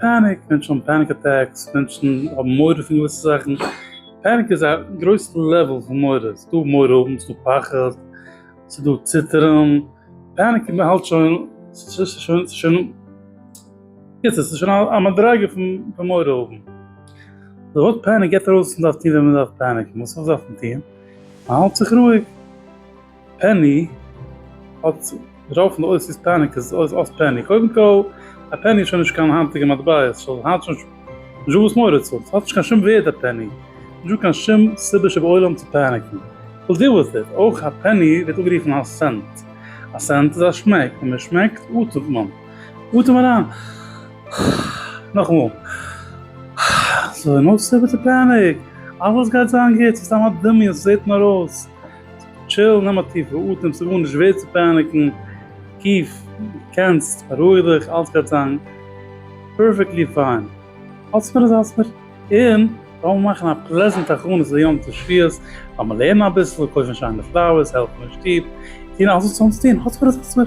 פעניק, מענטשן האבן פעניק אטעקס, מענטשן האבן מורא פון געוויסע זאכן, פעניק איז א גרויסע לעוועל פון מורא, ס'איז דא מורא האבן, ס'איז דא פחד, ס'איז דא ציטערן, פעניק מען האלט שוין, ס'איז שוין, ס'איז שוין, קיצור ס'איז שוין א מדריגה פון מורא האבן, די ווארט פעניק געבט ארויס וואס מען דארף טון ווען מען דארף פעניקן, וואס דארף מען טון? מען האלט זיך רואיג. פעני האט דערויף און אויס איז פעניק איז אויס אויס פעני קודם כל א פעני איז שוין נישט קיין היינטיגע מטבע ס'איז שוין היינט שוין נישטא וואס מורא צו האבן ס'האט נישט קיין שום ווערד א פעני נישטא קיין שום סיבה שבעולם צו פעניקן וויל דיעל וויט איט אויך א פעני ווערט אנגערופן א סענט א סענט איז א שמעק ווען מען שמעקט אטעמט מען אטעם אריין נאכאמאל סאו נאו סיבה צו פעניק אלעס גייט זיין גוט ס'איז סתם א דמיון ס'זעט נאר אויס. טשיל, נעם א טיפע אטעם, ס'איז גארנישט ווערד צו פאניקן, קיף, קענסט, בארואיג דיך, אלץ גאטצאנג פערפעקטלי פיין, האלטסט מיר איז האלטסט מיר, און לאמיר מאכן א פלעזענט הכנות ליום תשבי'ס, לאמיר לערנען אביסל, קויפן שיינע פלאוערס, העלפן אין שטוב, טון אלץ וואס אונז טון, האלטסט מיר איז האלטסט מיר.